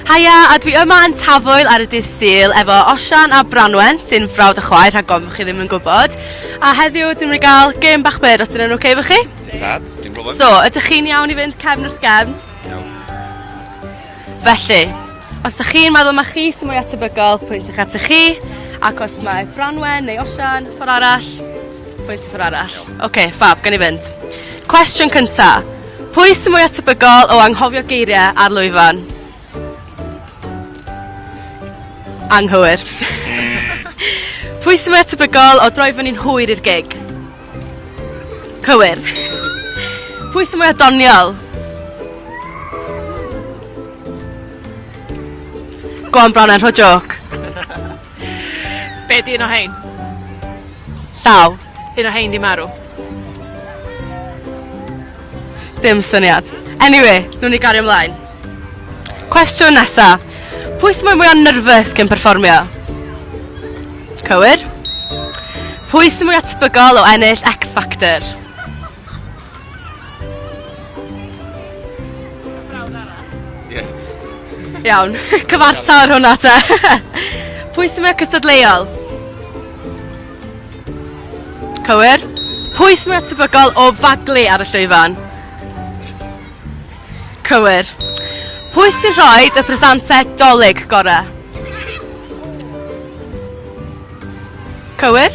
Haia, a dwi yma yn Tafwyl ar y dydd Sul efo Osian a Branwen sy'n frawd a chwaer rhag ofn chi ddim yn gwybod. A heddiw dwi'n mynd i gael gêm bach byr os dyna'n oce okay efo chi? Tad, dim problem. So, ydych chi'n iawn i fynd cefn wrth gefn? Iawn. Felly, os ydych chi'n meddwl mae chi sy'n mwy atebygol, pwynt eich atych chi, ac os mae Branwen neu Osian, ffordd arall, pwynt y ffordd arall. Oce, okay, fab, gan i fynd. Cwestiwn cyntaf. Pwy sy'n mwyaf tebygol o anghofio geiriau ar lwyfan? Anghywir. Pwy sy'n mwyaf tebygol o droi fyny'n hwyr i'r gig? Cywir. Pwy sy'n mwyaf doniol? Go on, Brown, rho joc. Be di un o hein? Llaw. Un o hein di marw. Dim syniad. Anyway, nhw'n ni gario ymlaen. Cwestiwn nesa. Pwy sy'n mwy o'n nerfus cyn perfformio? Cywir. Pwy sy'n mwy atbygol o ennill X Factor? Iawn, cyfarta ar hwnna te. Pwy sy'n mynd cystadleuol? Cywir. Pwy sy'n mynd tebygol o faglu ar y llwyfan? Cywir. Pwy sy'n rhoi y presantau dolyg gorau? Cywir.